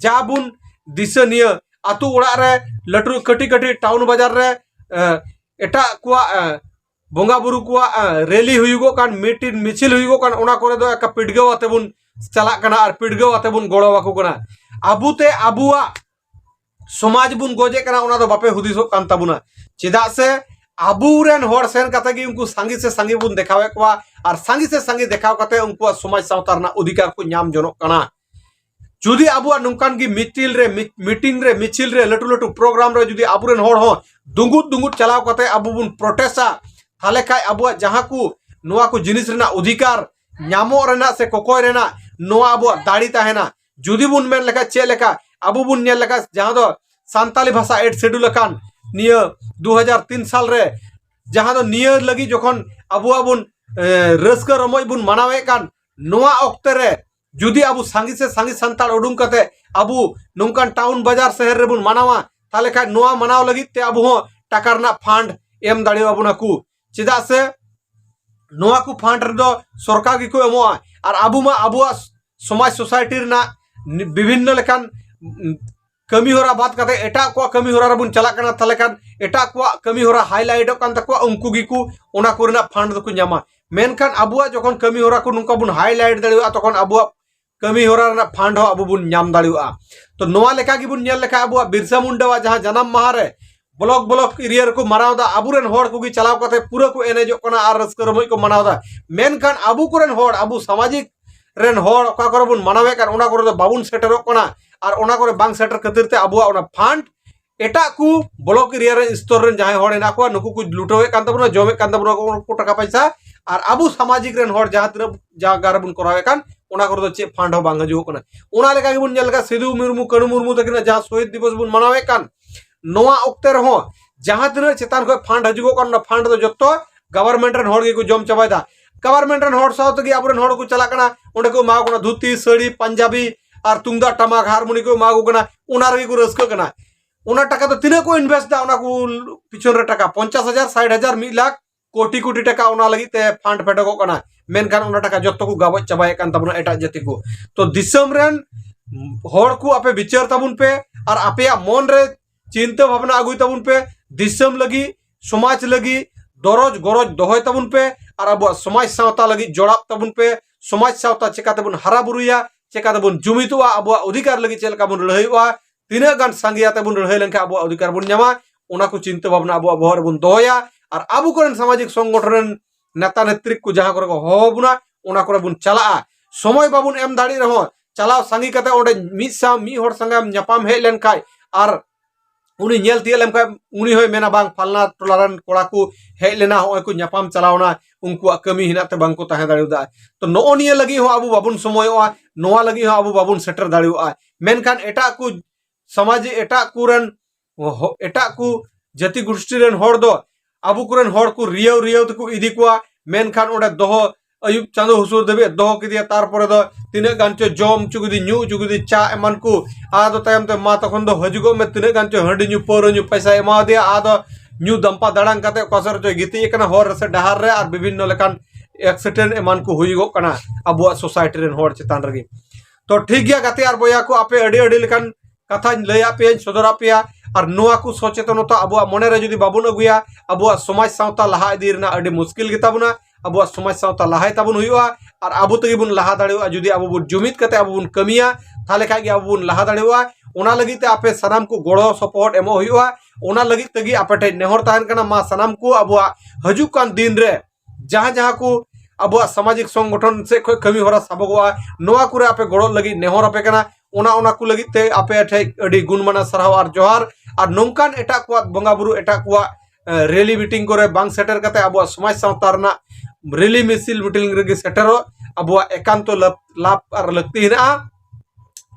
ᱡᱟ ᱵᱚᱱ ᱫᱤᱥᱟᱹ ᱱᱤᱭᱟᱹ ᱟᱛᱳ ᱚᱲᱟᱜ ᱨᱮ ᱞᱟᱹᱴᱩ ᱠᱟᱹᱴᱤᱡ ᱠᱟᱹᱴᱤᱡ ᱴᱟᱣᱩᱱ ᱵᱟᱡᱟᱨ ᱨᱮ ᱮᱴᱟᱜ ᱠᱚᱣᱟᱜ ᱵᱚᱸᱜᱟ ᱵᱩᱨᱩ ᱠᱚᱣᱟᱜ ᱨᱮᱞᱤ ᱦᱩᱭᱩᱜᱚᱜ ᱠᱟᱱ ᱢᱤᱴᱤᱱ ᱢᱤᱪᱷᱤᱞ ᱦᱩᱭᱩᱜᱚᱜ ᱠᱟᱱ ᱚᱱᱟ ᱠᱚᱨᱮ ᱫᱚ ᱮᱠᱟ ᱯᱤᱰᱜᱟᱹᱣ ᱟᱛᱮ ᱵᱚᱱ ᱪᱟᱞᱟᱜ ᱠᱟᱱᱟ ᱟᱨ ᱯᱤᱰᱜᱟᱹᱣ ᱟᱛᱮ ᱵᱚᱱ ᱜᱚᱲᱚ ᱟᱠᱚ ᱠᱟᱱᱟ ᱟᱵᱚᱛᱮ ᱟᱵᱚᱣᱟᱜ ᱥᱚᱢᱟᱡᱽ ᱵᱚᱱ ᱜᱚᱡᱮ ᱠᱟᱱᱟ ᱚᱱᱟ ᱫᱚ ᱵᱟᱯᱮ ᱦᱩᱫᱤᱥᱚᱜ ᱠᱟᱱ ᱛᱟᱵᱚᱱᱟ ᱪᱮᱫᱟᱜ ᱥᱮ ᱟᱵᱚ ᱨᱮᱱ ᱦᱚᱲ ᱥᱮᱱ ᱠᱟᱛᱮ ᱜᱮ ᱩᱱᱠᱩ ᱥᱟᱸᱜᱮ ᱥᱮ ᱥᱟᱸᱜᱮ ᱵᱚᱱ ᱫᱮᱠᱷᱟᱣᱮᱫ ᱠᱚᱣᱟ ᱟᱨ ᱥᱟᱸᱜᱮ ᱥᱮ ᱥᱟᱸᱜᱮ ᱫᱮᱠᱷᱟᱣ ᱠᱟᱛᱮ ᱩᱱᱠᱩᱣᱟᱜ ᱥᱚᱢᱟᱡᱽ ᱥᱟᱶᱛᱟ ᱨᱮᱱᱟᱜ ᱚᱫᱷᱤᱠᱟᱨ ᱠᱚ ᱧᱟᱢ ᱡᱚᱱᱚᱜ ᱠᱟᱱᱟ ᱡᱩᱫᱤ ᱟᱵᱚᱣᱟᱜ ᱱᱚᱝᱠᱟᱱ ᱜᱮ ᱢᱤᱴᱤᱞ ᱨᱮ ᱢᱤᱴᱤᱝ ᱨᱮ ᱢᱤᱪᱷᱤᱞ ᱨᱮ ᱞᱟᱹᱴᱩ ᱞᱟᱹᱴᱩ ᱯᱨᱳᱜᱨᱟᱢ ᱨᱮ ᱡᱩᱫᱤ ᱟᱵᱚ ᱨᱮᱱ ᱦᱚᱲ ᱦᱚᱸ ᱫᱩᱸᱜᱩᱫ ᱫᱩᱸᱜᱩᱫ ᱪᱟᱞᱟᱣ ᱠᱟᱛᱮ ᱟᱵᱚ ᱵᱚᱱ ᱯᱨᱚᱴᱮᱥᱟ ᱛᱟᱦᱞᱮ ᱠᱷᱟᱡ ᱟᱵᱚᱣᱟᱜ ᱡᱟᱦᱟᱸ ᱠᱚ ᱱᱚᱣᱟ ᱠᱚ ᱡᱤᱱᱤᱥ ᱨᱮᱱᱟᱜ ᱚᱫᱷᱤᱠᱟᱨ ᱧᱟᱢᱚᱜ ᱨᱮᱱᱟᱜ ᱥᱮ ᱠᱚᱠᱚᱭ ᱨᱮᱱᱟᱜ ᱱᱚᱣᱟ ᱟᱵᱚᱣᱟᱜ ᱫᱟᱲᱮ ᱛᱟᱦᱮᱱᱟ ᱡᱩᱫᱤ ᱵᱚᱱ ᱢᱮᱱ ᱞᱮᱠᱷᱟᱡ ᱪᱮᱫ ᱞᱮᱠᱟ ᱟᱵᱚ ᱵᱚᱱ ᱧᱮᱞ ᱞᱮᱠᱷᱟᱡ ᱡᱟᱦᱟᱸ ᱫᱚ ᱥᱟᱱᱛᱟᱞᱤ ᱵᱷᱟᱥᱟ ᱮᱰ ᱥᱮᱰᱩᱞ ᱟᱠᱟᱱ ᱱᱤᱭᱟᱹ ᱫᱩ ᱦᱟᱡᱟᱨ ᱛᱤᱱ ᱥᱟᱞ ᱨᱮ ᱡᱟᱦᱟᱸ ᱫᱚ ᱱᱤᱭᱟᱹ ᱞᱟᱹᱜᱤᱫ ᱡᱚᱠᱷᱚᱱ ᱟᱵᱚᱣᱟᱜ ᱵᱚᱱ ᱨᱟᱹᱥᱠᱟᱹ ᱨᱚᱢᱚᱡ ᱵᱚᱱ ᱢᱟᱱᱟᱣᱮᱫ ᱠᱟᱱ ᱱᱚᱣᱟ ᱚᱠᱛᱮ ᱨᱮ ᱡᱩᱫᱤ ᱟᱵᱚ ᱥᱟᱸᱜᱮ ᱥᱮ ᱥᱟᱸᱜᱮ ᱥᱟᱱᱛᱟᱲ ᱩᱰᱩᱝ ᱠᱟᱛᱮ ᱟᱵᱚ ᱱᱚᱝᱠᱟᱱ ᱴᱟᱣᱩᱱ ᱵᱟᱡᱟᱨ ᱥᱮᱦᱮᱨ ᱨᱮᱵᱚᱱ ᱢᱟᱱᱟᱣᱟ ᱛᱟᱦᱞᱮ ᱠᱷᱟᱡ ᱱᱚᱣᱟ ᱢᱟᱱᱟᱣ ᱞᱟᱹᱜᱤᱫ ᱛᱮ ᱟᱵᱚ ᱦᱚᱸ ᱴᱟᱠᱟ ᱨᱮᱱᱟᱜ ᱯᱷᱟᱱᱰ ᱮᱢ ᱫᱟᱲᱮᱭᱟᱵᱚᱱᱟ ᱠᱚ ᱪᱮᱫᱟᱜ ᱥᱮ ᱱᱚᱣᱟ ᱠᱚ ᱯᱷᱟᱱᱰ ᱨᱮᱫᱚ ᱥᱚᱨᱠᱟᱨ ᱜᱮᱠᱚ ᱮᱢᱚᱜᱼᱟ ᱟᱨ ᱟᱵᱚ ᱢᱟ ᱟᱵᱚᱣᱟᱜ ᱥᱚᱢᱟᱡᱽ ᱥᱳᱥᱟᱭᱴᱤ ᱨᱮᱱᱟᱜ ᱵᱤᱵᱷᱤᱱᱱᱚ ᱞᱮᱠᱟᱱ ᱠᱟᱹᱢᱤ ᱦᱚᱨᱟ ᱵᱟᱫ ᱠᱟᱛᱮ ᱮᱴᱟᱜ ᱠᱚᱣᱟᱜ ᱠᱟᱹᱢᱤ ᱦᱚᱨᱟ ᱨᱮᱵᱚᱱ ᱪᱟᱞᱟᱜ ᱠᱟᱱᱟ ᱛᱟᱦᱞᱮ ᱠᱷᱟᱱ ᱮᱴᱟᱜ ᱠᱚᱣᱟᱜ ᱠᱟᱹᱢᱤ ᱦᱚᱨᱟ ᱦᱟᱭᱞᱟᱭᱤᱴᱚᱜ ᱠᱟᱱ ᱛᱟᱠᱚᱣᱟ ᱩᱱᱠᱩ ᱜᱮᱠᱚ ᱚᱱᱟ ᱠᱚᱨᱮᱱᱟᱜ ᱯᱷᱟᱱᱰ ᱫᱚᱠᱚ ᱧᱟᱢᱟ ᱢᱮᱱᱠᱷᱟᱱ ᱟᱵᱚᱣᱟᱜ ᱡᱚᱠᱷᱚᱱ ᱠᱟᱹᱢᱤ ᱦᱚᱨᱟ ᱠᱚ ᱱᱚᱝᱠᱟ ᱵᱚᱱ ᱦᱟᱭᱞᱟᱭᱤᱴ ᱫᱟᱲᱮᱭᱟᱜᱼᱟ ᱛᱚᱠᱷᱚᱱ ᱟᱵᱚᱣᱟᱜ ᱠᱟᱹᱢᱤ ᱦᱚᱨᱟ ᱨᱮᱱᱟᱜ ᱯᱷᱟᱱᱰ ᱦᱚᱸ ᱟᱵᱚ ᱵᱚᱱ ᱧᱟᱢ ᱫᱟᱲᱮᱭᱟᱜᱼᱟ ᱛᱚ ᱱᱚᱣᱟ ᱞᱮᱠᱟ ᱜᱮᱵᱚᱱ ᱧᱮᱞ ᱞᱮᱠᱷᱟᱱ ᱟᱵᱚᱣᱟᱜ ᱵᱤᱨᱥᱟ ᱢᱩᱱᱰᱟᱣᱟᱜ ᱡᱟᱦᱟᱸ ᱡᱟᱱᱟᱢ ᱢᱟᱦᱟ ᱨᱮ ᱵᱞᱚᱠ ᱵᱞᱚᱠ ᱮᱨᱤᱭᱟ ᱨᱮᱠᱚ ᱢᱟᱱᱟᱣ ᱫᱟ ᱟᱵᱚᱨᱮᱱ ᱦᱚᱲ ᱠᱚᱜᱮ ᱪᱟᱞᱟᱣ ᱠᱟᱛᱮ ᱯᱩᱨᱟᱹ ᱠᱚ ᱮᱱᱮᱡᱚᱜ ᱠᱟᱱᱟ ᱟᱨ ᱨᱟᱹᱥᱠᱟᱹ ᱨᱚᱢᱚᱡ ᱠᱚ ᱢᱟᱱᱟᱣ ᱫᱟ ᱢᱮᱱᱠᱷᱟᱱ ᱟᱵᱚ ᱠᱚᱨᱮᱱ ᱦᱚᱲ ᱟᱵᱚ ᱥᱟᱢᱟᱡᱤᱠ ᱨᱮᱱ ᱦᱚᱲ ᱚᱠᱟ ᱠᱚᱨᱮ ᱵᱚᱱ ᱢᱟᱱᱟᱣᱮᱫ ᱠᱟᱱ ᱚᱱᱟ ᱠᱚᱨᱮ ᱫᱚ ᱵᱟᱵᱚᱱ ᱥᱮᱴᱮᱨᱚᱜ ᱠᱟᱱᱟ ᱟᱨ ᱚᱱᱟ ᱠᱚᱨᱮ ᱵᱟᱝ ᱥᱮᱴᱮᱨ ᱠᱷᱟᱹᱛᱤᱨ ᱛᱮ ᱟᱵᱚᱣᱟᱜ ᱚᱱᱟ ᱯᱷᱟᱱᱰ ᱮᱴᱟᱜ ᱠᱚ ᱵᱞᱚᱠ ᱮᱨᱤᱭᱟ ᱨᱮ ᱥᱛᱚᱨ ᱨᱮᱱ ᱡᱟᱦᱟᱸᱭ ᱦᱚᱲ ᱦᱮᱱᱟᱜ ᱠᱚᱣᱟ ᱱᱩᱠᱩ ᱠᱚ ᱞᱩᱴᱟᱹᱣᱮᱫ ᱠᱟᱱ ᱛᱟᱵᱚᱱᱟ ᱡᱚᱢᱮᱫ ᱠᱟᱱ ᱛᱟᱵᱚᱱᱟ ᱩᱱᱠᱩ ᱴᱟᱠᱟ ᱯᱚᱭᱥᱟ ᱟᱨ ᱟᱵᱚ ᱥᱟᱢᱟᱡᱤᱠ ᱨᱮᱱ ᱦᱚᱲ ᱡᱟᱦᱟᱸ ᱛᱤᱱᱟᱹᱜ ᱡᱟᱭᱜᱟ ᱨᱮᱵᱚᱱ ᱠᱚᱨᱟᱣᱮᱫ ᱠᱟᱱ ᱚᱱᱟ ᱠᱚᱨᱮ ᱫᱚ ᱪᱮᱫ ᱯᱷᱟᱱᱰ ᱦᱚᱸ ᱵᱟᱝ ᱦᱤᱡᱩᱜ ᱠᱟᱱᱟ ᱚᱱᱟ ᱞᱮᱠᱟ ᱜᱮᱵᱚᱱ ᱧᱮᱞ ᱞᱮᱠᱟ ᱥᱤᱫᱩ ᱢᱩᱨᱢᱩ ᱠᱟᱹᱱᱩ ᱢᱩᱨᱢᱩ ᱛᱟᱹᱠᱤᱱᱟᱜ ᱡᱟᱦᱟᱸ ᱥᱚᱦᱤᱫ ᱫᱤᱵᱚᱥ ᱵᱚᱱ ᱢᱟᱱᱟᱣᱮᱫ ᱠᱟᱱ ᱱᱚᱣᱟ ᱚᱠᱛᱮ ᱨᱮᱦᱚᱸ ᱡᱟᱦᱟᱸ ᱛᱤᱱᱟᱹᱜ ᱪᱮᱛᱟᱱ ᱠᱷᱚᱱ ᱯᱷᱟᱱᱰ ᱦᱤᱡᱩᱜᱚᱜ ᱠᱟᱱ ᱚᱱᱟ ᱯᱷᱟᱱᱰ ᱫᱚ ᱡᱚᱛᱚ ᱜᱚᱵᱷᱚᱨᱱᱢᱮᱱᱴ ᱨᱮᱱ ᱦᱚᱲ ᱜᱮᱠᱚ ᱡᱚᱢ ᱪᱟᱵᱟᱭᱮᱫᱟ ᱜᱚᱵᱷᱚᱨᱢᱮᱱᱴ ᱨᱮᱱ ᱦᱚᱲ ᱥᱟᱶ ᱛᱮᱜᱮ ᱟᱵᱚᱨᱮᱱ ᱦᱚᱲ ᱠᱚ ᱪᱟᱞᱟᱜ ᱠᱟᱱᱟ ᱚᱸᱰᱮ ᱠᱚ ᱮᱢᱟ ᱠᱟᱱᱟ ᱫᱷᱩᱛᱤ ᱥᱟᱹᱲᱤ ᱯᱟᱧᱡᱟᱵᱤ ᱟᱨ ᱛᱩᱢᱫᱟᱜ ᱴᱟᱢᱟᱠ ᱦᱟᱨᱢᱳᱱᱤ ᱠᱚ ᱮᱢᱟ ᱠᱚ ᱠᱟᱱᱟ ᱚᱱᱟ ᱨᱮᱜᱮ ᱠᱚ ᱨᱟᱹᱥᱠᱟᱹᱜ ᱠᱟᱱᱟ ᱚᱱᱟ ᱴᱟᱠᱟ ᱫᱚ ᱛᱤᱱᱟᱹᱜ ᱠᱚ ᱤᱱᱵᱷᱮᱥᱴ ᱫᱟ ᱚᱱᱟ ᱠᱚ ᱯᱤᱪᱷᱚᱱ ᱨᱮ ᱴᱟᱠᱟ ᱯᱚᱧᱪᱟᱥ ᱦᱟᱡᱟᱨ ᱥᱟᱴ ᱦᱟᱡᱟᱨ ᱢᱤᱫ ᱞᱟᱠᱷ ᱠᱳᱴᱤ ᱠᱳᱴᱤ ᱴᱟᱠᱟ ᱚᱱᱟ ᱞᱟᱹᱜᱤᱫ ᱛᱮ ᱯᱷᱟᱱᱰ ᱯᱷᱮᱰᱚᱜᱚᱜ ᱠᱟᱱᱟ ᱢᱮᱱᱠᱷᱟᱱ ᱚᱱᱟ ᱴᱟᱠᱟ ᱡᱚᱛᱚ ᱠᱚ ᱜᱟᱵᱚᱡ ᱪᱟᱵᱟᱭᱮᱫ ᱠᱟᱱ ᱛᱟᱵᱚᱱᱟ ᱮᱴᱟᱜ ᱡᱟᱹᱛᱤ ᱠᱚ ᱛᱚ ᱫᱤᱥᱚᱢ ᱨᱮᱱ ᱦᱚᱲ ᱠᱚ ᱟᱯᱮ ᱵᱤᱪᱟᱹᱨ ᱛᱟᱵᱚᱱ ᱯᱮ ᱟᱨ ᱟᱯᱮᱭᱟᱜ ᱢᱚᱱ ᱨᱮ ᱪᱤᱱᱛᱟᱹ ᱵᱷᱟᱵᱽᱱᱟ ᱟᱹᱜᱩᱭ ᱛᱟᱵᱚᱱ ᱯᱮ ᱫᱤᱥᱚᱢ ᱞᱟᱹᱜᱤᱫ ᱥᱚᱢᱟᱡᱽ ᱞᱟᱹᱜᱤᱫ ᱫᱚᱨᱚᱡᱽ ᱜᱚᱨᱚᱡᱽ ᱫᱚᱦᱚᱭ ᱛᱟᱵᱚᱱ ᱯᱮ ᱟᱨ ᱟᱵᱚᱣᱟᱜ ᱥᱚᱢᱟᱡᱽ ᱥᱟᱶᱛᱟ ᱞᱟᱹᱜᱤᱫ ᱡᱚᱲᱟᱣ ᱛᱟᱵᱚᱱ ᱯᱮ ᱥᱚᱢᱟᱡᱽ ᱥᱟᱶᱛᱟ ᱪᱮᱠᱟᱛᱮ ᱵᱚᱱ ᱦᱟᱨᱟ ᱵᱩᱨᱩᱭᱟ ᱪᱮᱠᱟᱛᱮ ᱵᱚᱱ ᱡᱩᱢᱤᱫᱚᱜᱼᱟ ᱟᱵᱚᱣᱟᱜ ᱚᱫᱷᱤᱠᱟᱨ ᱞᱟᱹᱜᱤᱫ ᱪᱮᱫ ᱞᱮᱠᱟ ᱵᱚᱱ ᱞᱟᱹᱲᱦᱟᱹᱭᱚᱜᱼᱟ ᱛᱤᱱᱟᱹᱜ ᱜᱟᱱ ᱥᱟᱸᱜᱮᱭᱟᱛᱮ ᱵᱚᱱ ᱞᱟᱹᱲᱦᱟᱹᱭ ᱞᱮᱱᱠᱷᱟᱱ ᱟᱵᱚᱣᱟᱜ ᱚᱫᱷᱤᱠᱟᱨ ᱵᱚᱱ ᱧᱟᱢᱟ ᱚᱱᱟ ᱠᱚ ᱪᱤᱱᱛᱟᱹ ᱵᱷᱟᱵᱽᱱᱟ ᱟᱵᱚᱣᱟᱜ ᱵᱚᱦᱚᱜ ᱨᱮᱵᱚᱱ ᱫᱚᱦᱚᱭᱟ ᱟᱨ ᱟᱵᱚ ᱠᱚᱨᱮᱱ ᱥᱟᱢᱟᱡᱤᱠ ᱥᱚᱝᱜᱚᱴᱷᱚᱱ ᱨᱮᱱ ᱱᱮᱛᱟ ᱱᱮᱛᱨᱤ ᱠᱚ ᱡᱟᱦᱟᱸ ᱠᱚᱨᱮ ᱠᱚ ᱦᱚᱦᱚ ᱵᱚᱱᱟ ᱚᱱᱟ ᱠᱚᱨᱮ ᱵᱚᱱ ᱪᱟᱞᱟᱜᱼᱟ ᱥᱚᱢᱚᱭ ᱵᱟᱵᱚᱱ ᱮᱢ ᱫᱟᱲᱮ ᱨᱮᱦᱚᱸ ᱪᱟᱞᱟᱣ ᱥᱟᱸᱜᱮ ᱠᱟᱛᱮ ᱚᱸᱰᱮ ᱢᱤᱫ ᱥᱟᱶ ᱢᱤᱫ ᱦᱚᱲ ᱥᱟᱸᱜᱮ ᱧᱟᱯᱟᱢ ᱦᱮᱡ ᱞᱮᱱ ᱠᱷᱟᱡ ᱟᱨ ᱩᱱᱤ ᱧᱮᱞ ᱛᱤᱭᱟᱹᱜ ᱞᱮᱱ ᱠᱷᱟᱡ ᱩᱱᱤ ᱦᱚᱸᱭ ᱢᱮᱱᱟ ᱵᱟᱝ ᱯᱷᱟᱞᱱᱟ ᱴᱚᱞᱟ ᱨᱮᱱ ᱠᱚᱲᱟ ᱠᱚ ᱦᱮᱡ ᱞᱮᱱᱟ ᱦᱚᱸᱜᱼᱚᱭ ᱠᱚ ᱧᱟᱯᱟᱢ ᱪᱟᱞᱟᱣᱱᱟ ᱩᱱᱠᱩᱣᱟᱜ ᱠᱟᱹᱢᱤ ᱦᱮᱱᱟᱜ ᱛᱮ ᱵᱟᱝ ᱠᱚ ᱛᱟᱦᱮᱸ ᱫᱟᱲᱮᱭᱟᱫᱟ ᱛᱚ ᱱᱚᱜᱼᱚ ᱱᱤᱭᱟᱹ ᱞᱟᱹᱜᱤᱫ ᱦᱚᱸ ᱟᱵᱚ ᱵᱟᱵᱚᱱ ᱥᱚᱢᱚᱭᱚᱜᱼᱟ ᱱᱚᱣᱟ ᱞᱟᱹᱜᱤᱫ ᱦᱚᱸ ᱟᱵᱚ ᱵᱟᱵᱚᱱ ᱥᱮᱴᱮᱨ ᱫᱟᱲᱮᱭᱟᱜᱼᱟ ᱢᱮᱱᱠᱷᱟᱱ ᱮᱴᱟᱜ ᱠᱚ ᱥᱚᱢᱟᱡᱽ ᱮᱴᱟᱜ ᱠᱚᱨᱮᱱ ᱮᱴᱟᱜ ᱠᱚ ᱡᱟᱹᱛᱤ ᱜᱩᱥᱴᱤ ᱨᱮᱱ ᱦᱚᱲ ᱫᱚ ᱟᱵᱚ ᱠᱚᱨᱮᱱ ᱦᱚᱲ ᱠᱚ ᱨᱤᱭᱟᱹᱣ ᱨᱤᱭᱟᱹᱣ ᱛᱮᱠᱚ ᱤᱫᱤ ᱠᱚᱣᱟ ᱢᱮᱱᱠᱷᱟᱱ ᱚᱸᱰᱮ ᱫᱚᱦᱚ ᱟᱹᱭᱩᱵ ᱪᱟᱸᱫᱳ ᱦᱩᱥᱩᱨ ᱫᱷᱟᱹᱵᱤᱡ ᱫᱚᱦᱚ ᱠᱮᱫᱮᱭᱟ ᱛᱟᱨᱯᱚᱨᱮ ᱫᱚ ᱛᱤᱱᱟᱹᱜ ᱜᱟᱱ ᱪᱚ ᱡᱚᱢ ᱦᱚᱪᱚ ᱠᱮᱫᱮ ᱧᱩ ᱦᱚᱪᱚ ᱠᱮᱫᱮ ᱪᱟ ᱮᱢᱟᱱ ᱠᱚ ᱟᱫᱚ ᱛᱟᱭᱚᱢ ᱛᱮ ᱢᱟ ᱛᱚᱠᱷᱚᱱ ᱫᱚ ᱦᱤᱡᱩᱜᱚᱜ ᱢᱮ ᱛᱤᱱᱟᱹᱜ ᱜᱟᱱ ᱪᱚ ᱦᱟᱺᱰᱤ ᱧᱩ ᱯᱟᱹᱣᱨᱟᱹ ᱧᱩ ᱯᱚᱭᱥᱟᱭ ᱮᱢᱟᱣᱟᱫᱮᱭᱟ ᱟᱫᱚ ᱧᱩ ᱫᱟᱢᱯᱟ ᱫᱟᱲᱟᱝ ᱠᱟᱛᱮ ᱚᱠᱟ ᱥᱮᱫ ᱨᱮᱪᱚᱭ ᱜᱤᱛᱤᱡ ᱟᱠᱟᱱᱟ ᱦᱚᱨ ᱨᱮ ᱥᱮ ᱰᱟᱦᱟᱨ ᱨᱮ ᱟᱨ ᱵᱤᱵᱷᱤᱱᱱᱚ ᱞᱮᱠᱟᱱ ᱮᱠᱥᱤᱰᱮᱱᱴ ᱮᱢᱟᱱ ᱠᱚ ᱦᱩᱭᱩᱜᱚᱜ ᱠᱟᱱᱟ ᱟᱵᱚᱣᱟᱜ ᱥᱳᱥᱟᱭᱴᱤ ᱨᱮᱱ ᱦᱚᱲ ᱪᱮᱛᱟᱱ ᱨᱮᱜᱮ ᱛᱚ ᱴᱷᱤᱠ ᱜᱮᱭᱟ ᱜᱟᱛᱮ ᱟᱨ ᱵᱚᱭᱦᱟ ᱠᱚ ᱟᱯᱮ ᱟᱹᱰᱤ ᱟᱹᱰᱤ ᱞᱮᱠᱟᱱ ᱠᱟᱛᱷᱟᱧ ᱞᱟᱹᱭ ᱟᱯᱮᱭᱟᱹᱧ ᱥᱚᱫᱚᱨ ᱟᱯᱮᱭᱟ ᱟᱨ ᱱᱚᱣᱟ ᱠᱚ ᱥᱚᱪᱮᱛᱚᱱᱚᱛᱟ ᱟᱵᱚᱣᱟᱜ ᱢᱚᱱᱮ ᱨᱮ ᱡᱩᱫᱤ ᱵᱟᱵᱚᱱ ᱟᱹᱜᱩᱭᱟ ᱟᱵᱚᱣᱟᱜ ᱥᱚᱢᱟᱡᱽ ᱥᱟᱶᱛᱟ ᱞᱟᱦᱟ ᱤᱫᱤ ᱨᱮᱱᱟᱜ ᱟᱹᱰᱤ ᱢᱩᱥᱠᱤᱞ ᱜᱮᱛᱟᱵᱚᱱᱟ ᱟᱵᱚᱣᱟᱜ ᱥᱚᱢᱟᱡᱽ ᱥᱟᱶᱛᱟ ᱞᱟᱦᱟᱭ ᱛᱟᱵᱚᱱ ᱦᱩᱭᱩᱜᱼᱟ ᱟᱨ ᱟᱵᱚ ᱛᱮᱜᱮ ᱵᱚᱱ ᱞᱟᱦᱟ ᱫᱟᱲᱮᱭᱟᱜᱼᱟ ᱡᱩᱫᱤ ᱟᱵᱚ ᱵᱚᱱ ᱡᱩᱢᱤᱫ ᱠᱟᱛᱮ ᱟᱵᱚ ᱵᱚᱱ ᱠᱟᱹᱢᱤᱭᱟ ᱛᱟᱦᱞᱮ ᱠᱷᱟᱡ ᱜᱮ ᱟᱵᱚ ᱵᱚᱱ ᱞᱟᱦᱟ ᱫᱟᱲᱮᱭᱟᱜᱼᱟ ᱚᱱᱟ ᱞᱟᱹᱜᱤᱫ ᱛᱮ ᱟᱯᱮ ᱥᱟᱱᱟᱢ ᱠᱚ ᱜᱚᱲᱚ ᱥᱚᱯᱚᱦᱚᱫ ᱮᱢᱚᱜ ᱦᱩᱭᱩᱜᱼᱟ ᱚᱱᱟ ᱞᱟᱹᱜᱤᱫ ᱛᱮᱜᱮ ᱟᱯᱮ ᱴᱷᱮᱡ ᱱᱮᱦᱚᱨ ᱛᱟᱦᱮᱱ ᱠᱟᱱᱟ ᱢᱟ ᱥᱟᱱᱟᱢ ᱠᱚ ᱟᱵᱚᱣᱟᱜ ᱦᱤᱡᱩᱜ ᱠᱟᱱ ᱫᱤᱱ ᱨᱮ ᱡᱟᱦᱟᱸ ᱡᱟᱦᱟᱸ ᱠᱚ ᱟᱵᱚᱣᱟᱜ ᱥᱟᱢᱟᱡᱤᱠ ᱥᱚᱝᱜᱚᱴᱷᱚᱱ ᱥᱮᱫ ᱠᱷᱚᱱ ᱠᱟᱹᱢᱤ ᱦᱚᱨᱟ ᱥᱟᱵᱚᱜᱚᱜᱼᱟ ᱱᱚᱣᱟ ᱠᱚᱨᱮ ᱟᱯᱮ ᱜᱚᱲᱚ ᱞᱟᱹᱜᱤᱫ ᱱᱮᱦᱚᱨ ᱟᱯᱮ ᱠᱟᱱᱟ ᱚᱱᱟ ᱚᱱᱟ ᱠᱚ ᱞᱟᱹᱜᱤᱫ ᱛᱮ ᱟᱯᱮ ᱴᱷᱮᱡ ᱟᱹᱰᱤ ᱜᱩᱱᱢᱟᱱᱟ ᱥᱟᱨᱦᱟᱣ ᱟᱨ ᱡᱚᱦᱟᱨ ᱟᱨ ᱱᱚᱝᱠᱟᱱ ᱮᱴᱟᱜ ᱠᱚᱣᱟᱜ ᱵᱚᱸᱜᱟ ᱵᱩᱨᱩ ᱮᱴᱟᱜ ᱠᱚᱣᱟᱜ ᱨᱮᱞᱤ ᱢᱤᱴᱤᱝ ᱠᱚᱨᱮ ᱵᱟᱝ ᱥᱮᱴᱮᱨ ᱠᱟᱛᱮ ᱟᱵᱚᱣᱟᱜ ᱥᱚᱢᱟᱡᱽ ᱥᱟᱶᱛᱟ ᱨᱮᱱᱟᱜ ᱨᱮᱞᱤ ᱢᱤᱥᱤᱞ ᱢᱤᱴᱤᱝ ᱨᱮᱜᱮ ᱥᱮᱴᱮᱨᱚᱜ ᱟᱵᱚᱣᱟᱜ ᱮᱠᱟᱱᱛᱚ ᱞᱟᱵᱷ ᱟᱨ ᱞᱟᱹᱠᱛᱤ ᱦᱮᱱᱟᱜᱼᱟ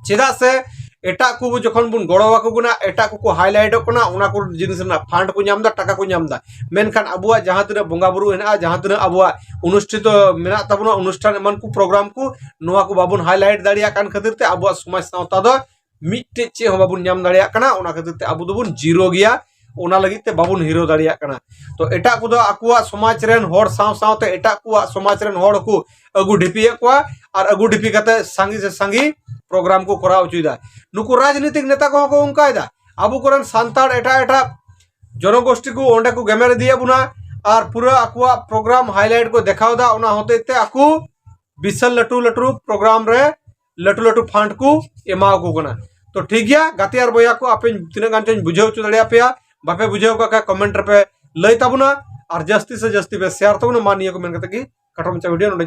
ᱪᱮᱫᱟᱜ ᱥᱮ ᱮᱴᱟᱜ ᱠᱚ ᱡᱚᱠᱷᱚᱱ ᱵᱚᱱ ᱜᱚᱲᱚ ᱟᱠᱚ ᱠᱟᱱᱟ ᱮᱴᱟᱜ ᱠᱚᱠᱚ ᱦᱟᱭᱞᱟᱭᱤᱴᱚᱜ ᱠᱟᱱᱟ ᱚᱱᱟ ᱠᱚ ᱡᱤᱱᱤᱥ ᱨᱮᱱᱟᱜ ᱯᱷᱟᱱᱰ ᱠᱚ ᱧᱟᱢᱫᱟ ᱴᱟᱠᱟ ᱠᱚ ᱧᱟᱢᱫᱟ ᱢᱮᱱᱠᱷᱟᱱ ᱟᱵᱚᱣᱟᱜ ᱡᱟᱦᱟᱸ ᱛᱤᱱᱟᱹᱜ ᱵᱚᱸᱜᱟᱼᱵᱩᱨᱩ ᱦᱮᱱᱟᱜᱼᱟ ᱡᱟᱦᱟᱸ ᱛᱤᱱᱟᱹᱜ ᱟᱵᱚᱣᱟᱜ ᱚᱱᱩᱥᱴᱷᱤᱛᱚ ᱢᱮᱱᱟᱜ ᱛᱟᱵᱚᱱᱟ ᱚᱱᱩᱥᱴᱷᱟᱱ ᱮᱢᱟᱱ ᱠᱚ ᱯᱨᱳᱜᱨᱟᱢ ᱠᱚ ᱱᱚᱣᱟ ᱠᱚ ᱵᱟᱵᱚᱱ ᱦᱟᱭᱞᱟᱭᱤᱴ ᱫᱟᱲᱮᱭᱟᱜ ᱠᱟᱱ ᱠᱷᱟᱹᱛᱤᱨ ᱛᱮ ᱟᱵᱚᱣᱟᱜ ᱥᱚᱢᱟᱡᱽ ᱥᱟᱶᱛᱟ ᱫᱚ ᱢᱤᱫᱴᱮᱡ ᱪᱮᱫ ᱦᱚᱸ ᱵᱟᱵᱚᱱ ᱧᱟᱢ ᱫᱟᱲᱮᱭᱟᱜ ᱠᱟᱱᱟ ᱚᱱᱟ ᱠᱷᱟᱹᱛᱤᱨ ᱛᱮ ᱟᱵᱚ ᱫᱚᱵᱚᱱ ᱡᱤᱨᱳ ᱜᱮᱭᱟ ᱚᱱᱟ ᱞᱟᱹᱜᱤᱫ ᱛᱮ ᱵᱟᱵᱚᱱ ᱦᱤᱨᱟᱹᱣ ᱫᱟᱲᱮᱭᱟᱜ ᱠᱟᱱᱟ ᱛᱚ ᱮᱴᱟᱜ ᱠᱚᱫᱚ ᱟᱠᱚᱣᱟᱜ ᱥᱚᱢᱟᱡᱽ ᱨᱮᱱ ᱦᱚᱲ ᱥᱟᱶ ᱥᱟᱶᱛᱮ ᱮᱴᱟᱜ ᱠᱚᱣᱟᱜ ᱥᱚᱢᱟᱡᱽ ᱨᱮᱱ ᱦᱚᱲ ᱠᱚ ᱟᱹᱜᱩ ᱰᱷᱤᱯᱤᱭᱮᱫ ᱠᱚᱣᱟ ᱟᱨ ᱟᱹᱜᱩ ᱰᱷᱤᱯᱤ ᱠᱟᱛᱮ ᱥᱟᱸᱜᱮ ᱥᱮ ᱥᱟᱸᱜᱮ ᱯᱨᱳᱜᱨᱟᱢ ᱠᱚ ᱠᱚᱨᱟᱣ ᱦᱚᱪᱚᱭᱮᱫᱟ ᱱᱩᱠᱩ ᱨᱟᱡᱽᱱᱤᱛᱤᱠ ᱱᱮᱛᱟ ᱠᱚᱦᱚᱸ ᱠᱚ ᱚᱱᱠᱟᱭᱮᱫᱟ ᱟᱵᱚ ᱠᱚᱨᱮᱱ ᱥᱟᱱᱛᱟᱲ ᱮᱴᱟᱜ ᱮᱴᱟᱜ ᱡᱚᱱᱚᱜᱳᱥᱴᱤ ᱠᱚ ᱚᱸᱰᱮ ᱠᱚ ᱜᱮᱢᱮᱨ ᱤᱫᱤᱭᱮᱫ ᱵᱚᱱᱟ ᱟᱨ ᱯᱩᱨᱟᱹ ᱟᱠᱚᱣᱟᱜ ᱯᱨᱳᱜᱨᱟᱢ ᱦᱟᱭᱞᱟᱭᱤᱴ ᱠᱚ ᱫᱮᱠᱷᱟᱣᱫᱟ ᱚᱱᱟ ᱦᱚᱛᱮᱡ ᱛᱮ ᱟᱠᱚ ᱵᱤᱥᱟᱞ ᱞᱟᱹᱴᱩ ᱞᱟᱹᱴᱩ ᱯᱨᱳᱜᱨᱟᱢ ᱨᱮ ᱞᱟᱹᱴᱩ ᱞᱟᱹᱴᱩ ᱯᱷᱟᱱᱰ ᱠᱚ ᱮᱢᱟ ᱠᱚ ᱠᱟᱱᱟ ᱛᱚ ᱴᱷᱤᱠ ᱜᱮᱭᱟ ᱜᱟᱛᱮ ᱟᱨ ᱵᱚᱭᱦᱟ ᱠᱚ ᱟᱯᱮ ᱛᱤᱱᱟᱹᱜ ᱜᱟᱱ ᱪᱚᱧ ᱵᱩᱡᱷᱟᱹᱣ ᱦᱚᱪᱚ ᱫᱟᱲᱮᱭᱟ ᱯᱮᱭᱟ ᱵᱟᱯᱮ ᱵᱩᱡᱷᱟᱹᱣ ᱠᱟᱜ ᱠᱷᱟᱡ ᱠᱚᱢᱮᱱᱴ ᱨᱮᱯᱮ ᱞᱟᱹᱭ ᱛᱟᱵᱚᱱᱟ ᱟᱨ ᱡᱟᱹᱥᱛᱤ ᱥᱮ ᱡᱟᱹᱥᱛᱤ ᱯᱮ ᱥᱮᱭᱟᱨ ᱛᱟᱵᱚᱱᱟ ᱢᱟ ᱱᱤᱭᱟᱹ ᱠᱚ ᱢᱮᱱ ᱠᱟᱛᱮ ᱜᱮ ᱠᱟᱴᱚ ᱢᱟᱪᱷᱟ ᱵᱷᱤᱰᱤᱭᱳ ᱱᱚᱰᱮ